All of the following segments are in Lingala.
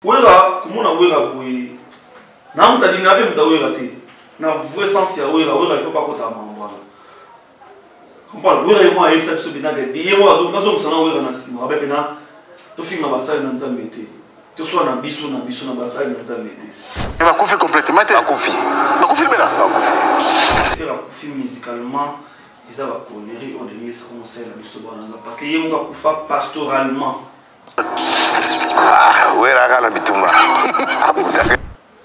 wera komona wera boye namutadi nabe muta wera te na vrai sens ya wera wera ifo pakota mambo wana comprendre wera ye moko ayebisa biso binaka ye moko nazongisa na wera na nsima abe mpe na tofinga basali na nzambe te toswa na biso na biso na basali na nzambe te eh, bakufi complètement te bakufi bakufi libela bakufi fere akufi musicalement eza baconnerie oyo ndenge esaka mosali na biso bana nzambe parce que ye moko akufa pastoralement Ah, weraka na bitumba abundaka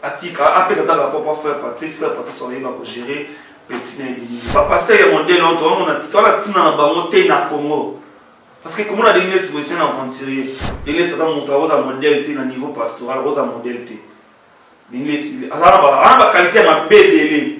atika apesa ata rapport pa frère patrice frère patrice oyeba kogérer petit na ebimi bapaster ya modele oyo toomona toala ntina na bango te na congo parce que komona ndenge nesi boyese na aventurier ndenge nesi ata moto akoza modele te na niveau pastoral akoza modele te ndenge nesi aza na bakalite ya mabe ebele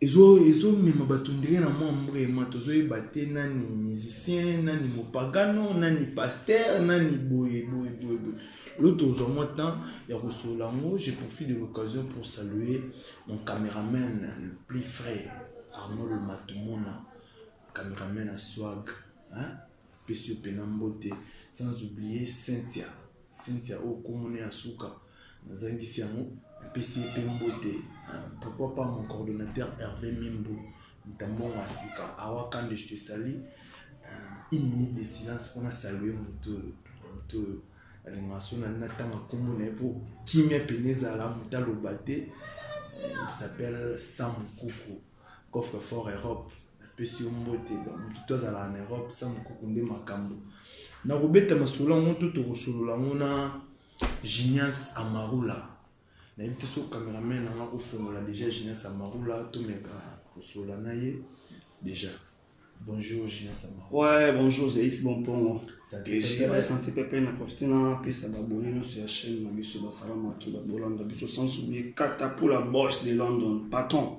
ezo ezo mema bato ndenge na mwa mbrema tozoyeba te nani musicien nani mopagano nani pasteur nani boye boye boye boye lo tozwa mwa temps ya kosolola yango je profite de l'occasion pour saluer mon cameraman le plus frais arnold matumona cameraman ya swag hein? pesi yo mpena mbote sans oublier cynthia cynthia oyo komona ya suka Nazangisi yango, napesi ye mpe mbote. Pourquoi pas mon coordonnateur Hervé Mimbu, Mutambongo ya sika, awa Kande, je te salue. Euh, une minute de silence mpo na salue moto oyo moto oyo alingaka so nani natanga nkombo na ye mpo kimia pene ezala moto aloba te il s'appelle sam kuku coffre fort europe napesi yo mbote motu to azalaka na europe sam kuku nde makambo nakobeta masolo yango to tokosolola yango na Genius Amarula. Nayebi te soki cameraman na nga kofongola deja Genius Amarula tomeka kosolola na ye deja. Bonjour Genius Amarula. Ouais, bonjour Zeis Bompongo. Santé Pepe. Deja santé pepe na profite na pesa babone nyonso ya chaîne na biso basalama tu babolanda biso sans oublier katapula boss de London patron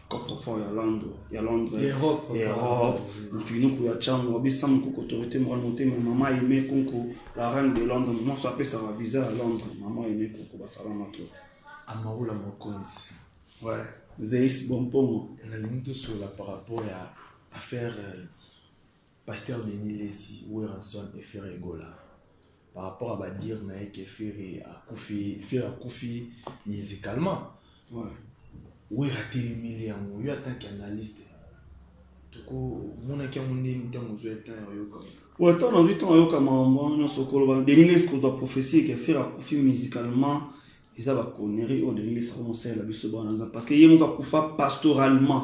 coffre-fort ya londre ya londre europe mofiniku ya chango abisa mokoko autorité morale motema mama aime konko la reine de londre moso apesaka visa ya londre mama aime konko basalama to amaula mokonzi ouais zeis bompongo nalingi tosola par rapport ya affaire euh, pasteur denis lesi weranson et ferre egola par rapport à badir na ye ke ferre akufi ferre akufi musicalement wera atelemeli yango yo atanke analyste tokomonaki yango ndenge ntango ozwa etan ya oyoka oyo ntango nazwi ntango ayoka makambo wana nyonso koloba deniles kozwa prophesie ke ferre akufi musicalement eza baconnerie oyo deniles akomosalela biso bana nzambe parce que ye moko akufa pastoralement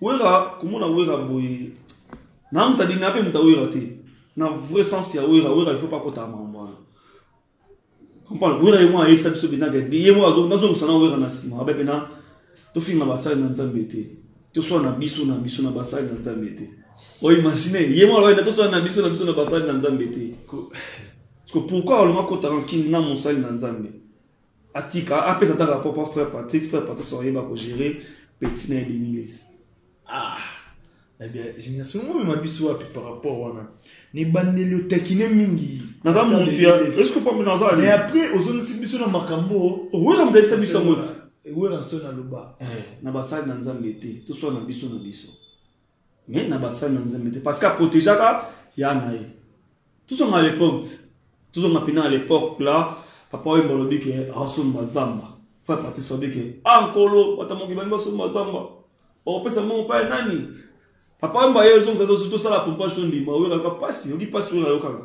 Wera komona Wera boye na muta dina pe muta Wera te na vrai sens ya Wera Wera il faut pas kota makambo wana comprendre Wera ye mwana ayebisa biso bina ke ye mwana azo nazo musana Wera na sima abe pena to finga basali na Nzambe te to swa na biso na biso na basali na Nzambe te o imagine ye mwana ba to swa na biso na biso na basali na Nzambe te parce que pourquoi olonga kota rancune na mosali na Nzambe atika apesa ata rapport mpo frère patrice frère patrice ayeba kogere petit na ye denilis ah génération ngo mema biso wapi par rapport wana nebandeli otakine mingi naza mutu ya eske pambe naza mais après ozongisi biso na makambo owera motayebisa biso yango ti ewera nso naloba eh, na basali na nzambe te toswana biso na biso mais na basali na nzambe te parce que aprotegeaka ya na ye tozonga à l'époque tozonga mpena à l'époque la papa oyemba olobi ke asomba zamba fa parti sobi ke a ah, nkolo bata moki bangi basomba zamba okopesa mbongo mpa ya nani papa oyemba ye ezongisa tosala pompage tondima oyokaka mpasi oyoki mpasi oyo ayokaka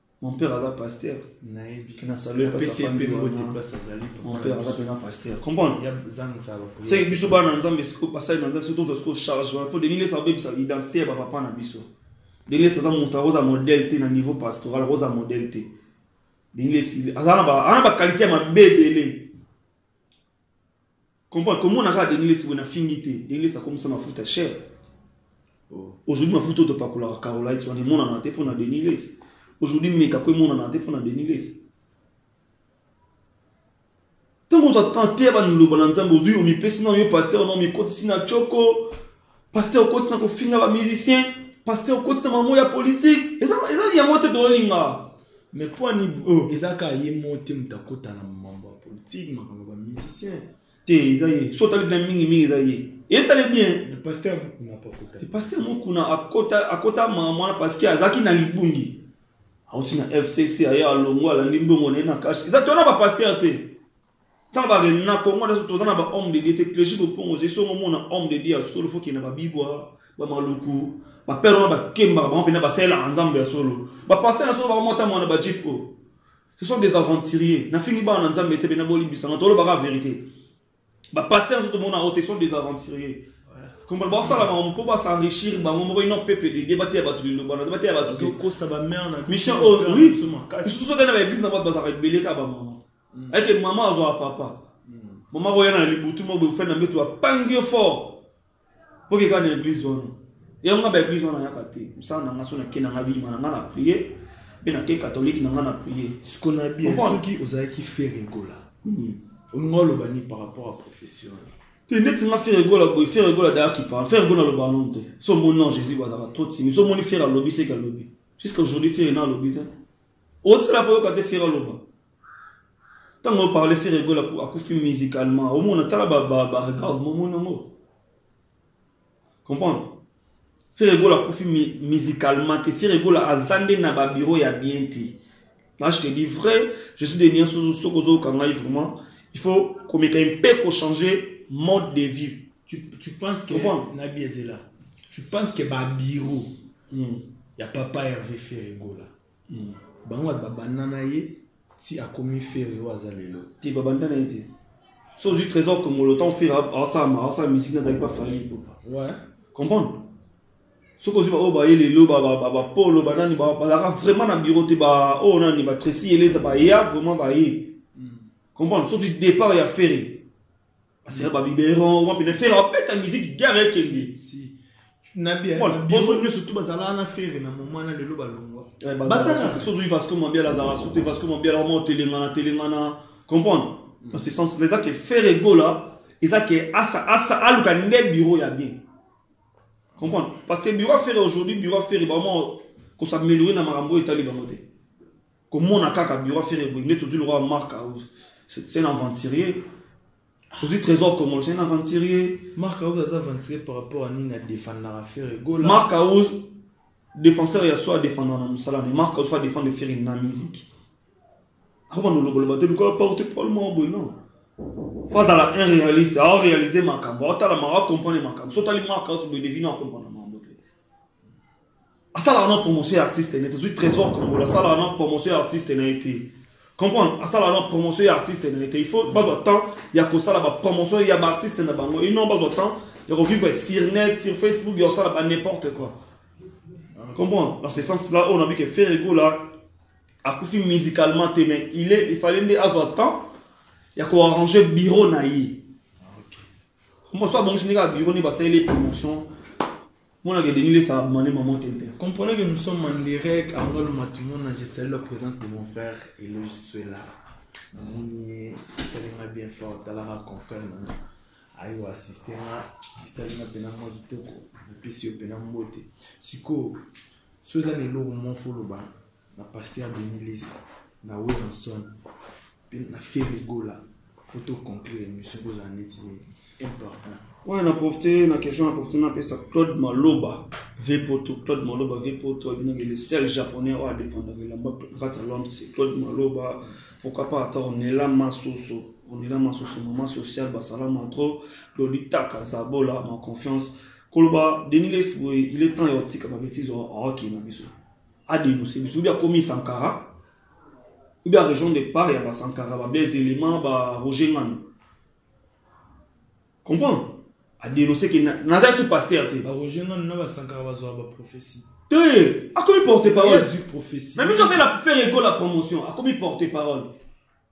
Mon père aza pasteur. Nayebi. Kina saluer pas sa famille. Place azali. Mon père aza pena pasteur. Comprendre? Ya zang sa ba. C'est biso ba na nzambe siko pasai na nzambe surtout siko charge wana po de nini sa bebisa identité ya ba papa na biso. De nini sa mutu akoza modèle te na niveau pastoral akoza modèle te. De nini si aza na ba ana ba qualité ya mabe ebele. comprendre komona kaka denis lesi boye na fingi te denis lesi akomisa mafuta cher oh. aujourd'hui mafuta oyo topakolaka carolite wana emonana te mpo na denis lesi aujourd'hui meka ko emonana te mpo na denis lesi ntango ozwa tante ya baniloba na nzambe ozwi omipesi na yo paster na omikotisi na coko Pasteur okosi na kofinga ba musiciens, pasteur okosi na mamo ya politique. Eza eza yango te tolinga. Mais po ani oh. eza ka ye mo te moto akota na mambo ya politique, makambo ba musiciens. Te eza ye. So tali na mingi mingi eza ye. Esale bien. Le pasteur Mukuna pa kota. Le pasteur Mukuna akota akota mwana parce que azaki na libungi. Auti na FCC aye alongo alandi mbongo na ye na cash. Eza tona ba pasteur te. ntango ba na congo nyonso toza na ba homme de dieu te clergie bopongo ozali songo omona homme de dieu ya solo fo okende na babibwa bamaluku bapere wana bakembaka bango mpenza basalelaka nzambe ya solo bapaster na solo bakomota mwana bajip oyo ce sont des aventuriers nafingi bana na nzambe te mpena bolimbisanga tolobaka verité bapaster na so tomona yango ce sont des aventuriers kombo basala bango mpo basenrichir bango moko ino pepe dede bateya bato liloba na bateya bato mission oyo oh, oui lisusu ote na baeglise na bato bazalaka ebele kaka bamama mm. eke mama azwaka papa mm. mama akoya na libutu moko bofani na mbeto bapangi yo fort mpo keka na eglise wana yango nga baeglise wana ayaka te mosala na nga so nake na nga biyima na nga na prie mpe nake katolike na nga na prie sikona bien soki ozalaki fere gola mm. olinga oloba nini par rapport à profession te neti nga fere gola boye fere gola daya kipa fere gola aloba yango te so omoni non jésus bazalaka trop timi so omoni fere alobi seke alobi jusqu'à aujourd'hui fere na alobi te otisela mpo oyoka te fere aloba ntango oparle fere gola akufi musicalement omona tala baregarde momona yango comprendre fere gola akufi musicalement te fere gola aza nde na babiro ya bien te là je te dis vrai je suis de nienso soki ozoyoka ngai vraiment il faut komeka mpe kochanger mode de vie tu, tu penses que nabi ezela tu penses que babiro mm. ya papa herve fere gola Hmm. Bango ba babanda na ye ti akomi ferre oyo aza lelo. Ti babanda na ye ti. So ozwi trésor kongolo ntango ferre asala asala misiki nazalaki mpa fali ipupa. Ouais. Comprendre? soki ozwi baoyo baye lelo bapolo banani bazalaka vraiment na bureau te baoyo oh, nani batresi eleza baya vraiment baye hmm. comprendre soki départ ya ferre basala babiberon wapi na fere abeta miziki gare ekende bonjour nyonso tu bazalaka na fere na moma na lelo balongwa eh, basaka sozwi vasco mabiala azalaka sote vasco mabiala oma otelengana telengana comprendre mm. dans ce sens là eza ke fere egola eza ke asa asa aluka nde bureau ya bien comprendre parce que bureau ya fere aujourd'hui bureau ya fere baoma kosameliore na makambo oyo etali bango te komona kaka biro ya fere boye ndeti ozwi lokola mark house c'est un aventurier ozwi trésor congolo c'est un aventurier mark house aza aventurier par rapport à nini adefandaka fere gola mark house défenseur ya so adefanda na mosala ne mark house fo adefendre fere na musique akobanda oloboloba te lokola porte parole moko boye non fo azala un réaliste aoréalise makambo aotala makambo acomprendre makambo so otali mark house boye devine acomprendre asalaka na promotion ya artiste ne tozwi trésor congolo asalaka na promotion ya artiste na ye te comprendre asalaka na promotion ya artiste na ye te il faut bazwa temps ya kosala bapromotion ya baartiste na bango et non bazwa temps ya kovivre sur net sur facebook ya kosala ba n'importe quoi comprendre dans ce sens là oyo nabi ke ferrego là akufi musicalement te mais il est il fallait nde azwa temps ya koarrange bureau na ye mosusu abongisi ndenge ya bureau nde basaleli promotion Mon que Denis laisse à demander maman Tintin. Comprenez que nous sommes en direct à Angola Matumona. Je salue la présence de mon frère et le Suela. Namoni esalinga bien fort talaka confrère nanga aye koassiste nga esalinga mpena mwa kitoko napesi yo mpena mbote sikoyo so eza na eloko moko foloba na pasteur Denis Lesi na Williamson mpe na Ferre Gola mpo to conclure émission kozala neti important Ouais, na profité, na question na profité, na pesa Claude Maloba, V Poto, Claude Maloba, V Poto, il est le seul japonais à défendre le lamba, grâce à Londres, c'est Claude Maloba, pourquoi pas, attends, on est là, Massoso, on est là, Massoso, maman sociale, Basala Mantro, Lolita Kazabola, ma confiance, Koloba, Denis Lesboy, il est temps, il y a un petit comme un bêtise, il y a un hockey, il y a un bêtise. a denoncer biso oubien akomi sankara oubien arejoindre de part ya basankara bablaise element ba roger ngani comprendre adenonce ke naza su paster te baroger ngani na basankara bazwa baprophétie te akomi porte parole na biso asala faire ego la promotion akomi porte parole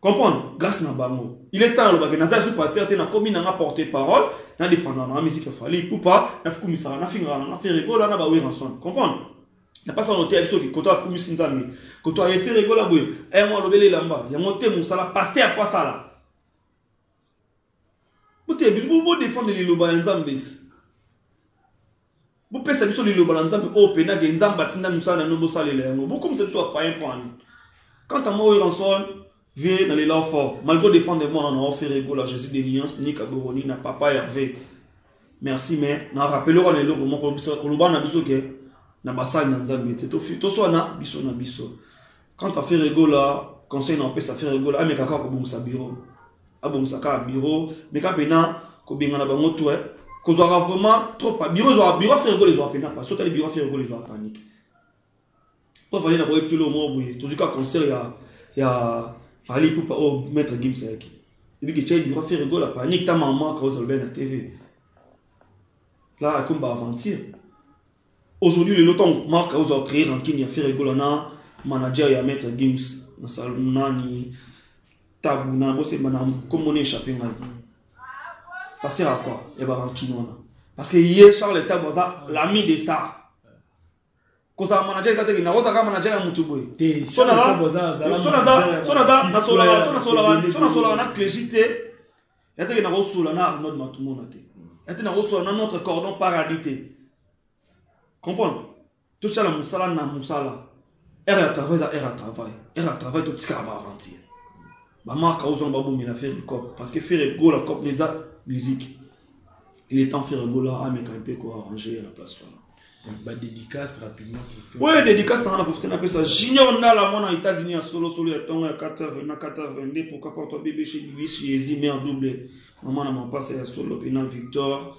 comprendre grâce na bango il est temps alobaki naza su pasteur te nakomi nanga porte parole na défendra nanga musique ya fali pupa nakumisaka nafingaka nanga feregola na baweranson comprendre na mpasa yango te ya biso koto akumisi nzambe koto aye feregola boye yango alobeli elamba yango te mosala pasteur po asala boteya biso bodefendre liloba ya nzambe ti bopesa biso liloba na nzambe oyo mpena ke nzambe atinda mosala na bino bosalela yango bokomisa biso apayen mpo ani quant à moi ranson vie na lela fort malgré dépendre mwana na ofere egola jésus de lions ni kaboroni na papa herve merci mais na rappelera na eloko moko koloba na biso ke na basali na nzambe te toswana biso na biso Quant à Ferre Gola, conseil na opesa Ferre Gola, ameka kaka kobongisa bureau. Abongisa kaka bureau, meka pena kobengana bango tout eh. Kozwaka vraiment trop pa bureau zwa bureau Ferre Gola zwa pena pa. Sota le bureau Ferre Gola zwa panique. Po fallait na ko epitule au moins boye. Tozuka concert ya ya Fally Poupa au oh, maître Gims yaki. Ebi ke chai bureau Ferre Gola panique ta maman ka ozalobena TV. Là, comme aventure. Aujourd'hui lelo tango Marc azo a créer rancune ya Ferre Gola na manager ya Maître Gims na salon nani tabu na bose bana kombo ne échappé ngai. Ça sert à quoi? Ya ba rancune wana. Parce que hier Charles Tabu aza l'ami des stars. kozala manager eza teke nakozala kaka manager ya motu boye so nasolaka na clegi te yate ke nakosola na arnold matumona te yate nakosola na notre cordon paradis te comprendre tosala mosala na mosala ere ya travail eza ere ya travail ere ya travail totikaka baaventure bamarka ozonga babomela fere cop parce que fere gola cop eza musique il est temps fere gola ameka mpe koarrange ya la place wana ba dédicace rapidement oyo dédicace nanga na profite napesa junior ndala mwana ya états-unis ya solosolo ya ntongo ya 4 na 422 pourquoi pas toi bebe chez luis jésus mère double mama na mapasa ya solo mpe na victor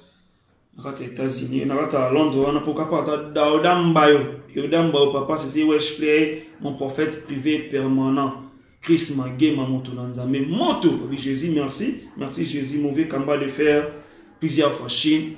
na kati ya états-unis na kati ya londres wana pourquoi pas ata daoda mbayo yoda mbayo papa sese wesh play mon prophète privé permanent chris magema moto na nzambe moto jésus merci merci jésus mauvais kamba de fer plusieurs fois chine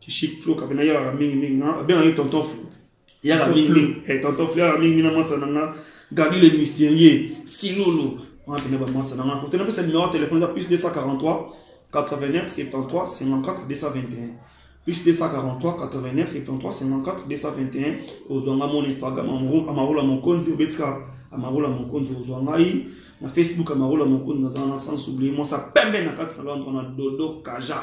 Chic Flo kabina yaka mingi mingi na ah, benga ye tonton Flo yaka mingi mingi eh tonton Flo yaka mingi na masa nanga Gabi le mystérieux Silolo on a bina ba masa nanga pour te na pesa numéro de téléphone plus 243 89 73 54 221 plus 243 89 73 54 221 ozwa nga mon instagram amarola mokonzi obetika amarola mokonzi ozwa ngai na facebook amarola mokonzi nazala na sans oublie mwasa pembe na kati na londre na dodo kaja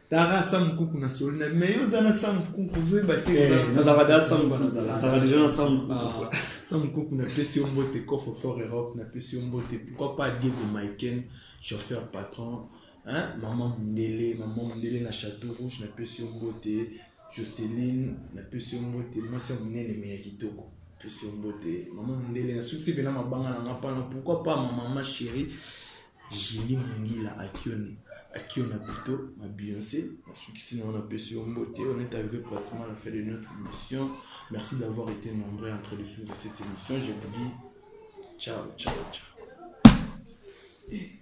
Tara Sam Kuku na soli na mais yo oza na Sam Kuku ozoyeba te eh, nazalaka da Sam Kuku nazalaka deja na Sam Kuku ah. Sam Kuku na pesi yo mbote Coffre Fort Europe na pesi yo mbote pourquoi pas Diego Maiken chauffeur patron hein maman Mundele maman Mundele na Château Rouge na pesi yo mbote Jocelyn na pesi yo mbote mwasi ya monene mais ya kitoko pesi yo mbote maman Mundele na susi pena mabanga na nga pana pourquoi pas maman ma chérie Julie Mungila akioni akiona pito ma Beyoncé nasukisi na wana pesi yo mbote on est arrivé pratiquement à la fin de notre émission merci d'avoir été nombreux en train de suivre cette émission je vous dis ciao ciao ciao eh.